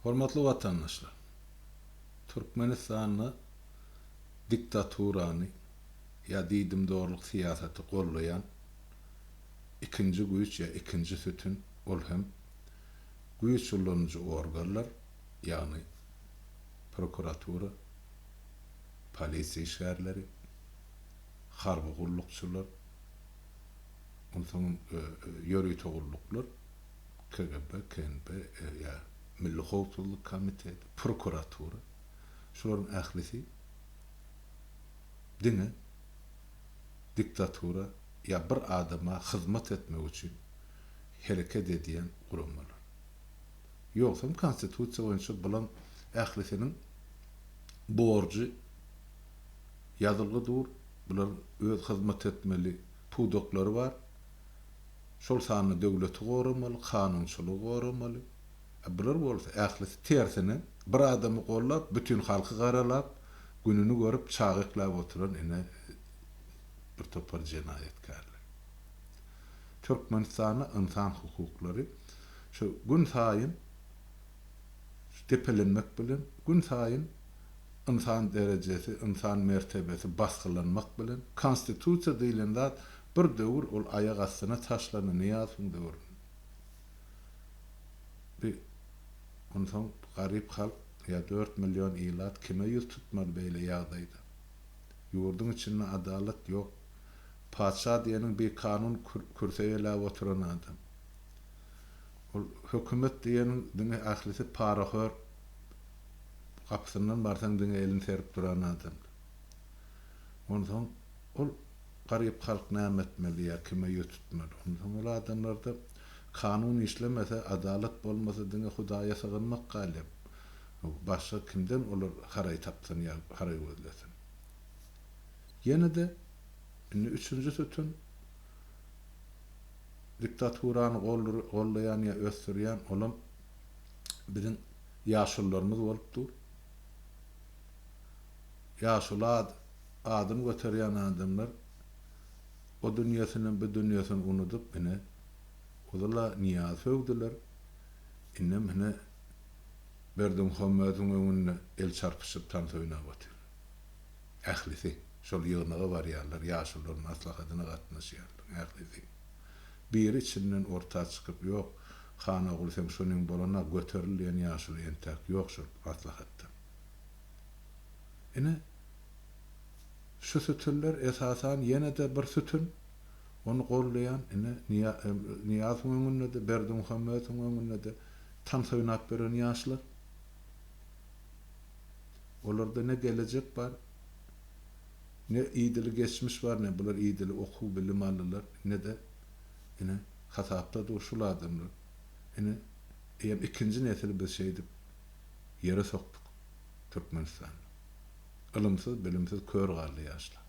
Hormatly watandaşlar! Türkmenistanda diktaturany ýa diýdimdorlyk syýasaty gollaýan ikinji güýç ýa ikinji sütün ol hem güýç ulanyjy organlar, ýagny prokuratura, polisiýa işgärleri, harby gullukçylar, onsoňam ýörite gulluklar. KGB, KNP, RIA, Milli howpsuzlyk komiteti, prokuratura, şularyň ählisi diňe diktatura ýa bir adama hyzmat etmek üçin hereket edýän guramalar. Ýogsam konstitusiýa boýunça bulaň ählisiniň borjy ýazylgy dur, bularyň öz hyzmat etmeli pudaklary bar. Şol sanda döwleti goramaly, kanunçylygy goramaly. A bular bolsa ählisi tersine, bir adamy gollap, bütin halky garalap, gününi görüp, çagyklap oturan ine bir topar jenaýatkärler. Türkmenistanda ynsan hukuklary şu gün saýyn şu depelenmek bilen, gün saýyn ynsan derejesi, ynsan mertebesi basgylanmak bilen, konstitusiýa diýlen zat Bir döwür ol aýak astyna taşlandy, Nyýazowyň döwründe. Bi, onsoň garyp halk, ýa dört million ilat kime ýüz tutmaly beýle ýagdaýda? Ýurduň içinde adalat ýok. Patyşa diýeniň bi kanun kürse eýläp oturan adam. Ol hökümet diýeniň diňe ählisi parahör, gapysyndan barsaň diňe elini serip duran adamlar. Onsoň. Ol garyp halk näme etmeli ýa kime ýüz tutmaly? Onsoň ol adamlarda kanun işlemese, adalat bolmasa diňe Hudaýa sygynmak galyp. Başga kimden olar haraý tapsyn ýa haraý gözlesin? Ýene-de indi üçünji sütün diktaturany gollaýan ýa ösdürýän olam biziň ýaşullarymyz bolup dur. Ýaşulat, adyny göterýän adamlar o dünýesini, bu dünýesini unudyp, ine, ozal-a Nyýazy sögdüler, indem, ine, Berdimuhamediň öňünde el çarpyşyp tans oýnap otyrlar. Ählisi şol ýygnaga barýarlar, ýaşulularyň maslahatyna gatnaşýarlar, ählisi. Biri içinden orta çykyp, Ýok, Hanogul, seň şunyň bolana göteril diýen ýaşuly entäk ýok şol maslahatdan. Ine, şu sütünler esasan ýene-de bir sütün, ony goldaýan, ine, Nyýazowyň öňünde-de, Berdimuhamedowyň öňünde-de tans oýnap ýören ýaşlar. Olarda ne gelejek bar, ne idili geçmiş bar, ne bular idili okuw-bilim aldylar, ne-de, ine, hasapda dur şul adamlar. Ine, eýýäm ikinji nesil biz şeýdip. ýere sokduk Türkmenistanda. Ylymsyz bilimsiz kör galdy ýaşlar.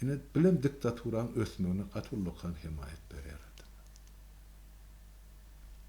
Ine bilem diktaturaň ösmegine gaty ullakan hemaýat berýär adamlar.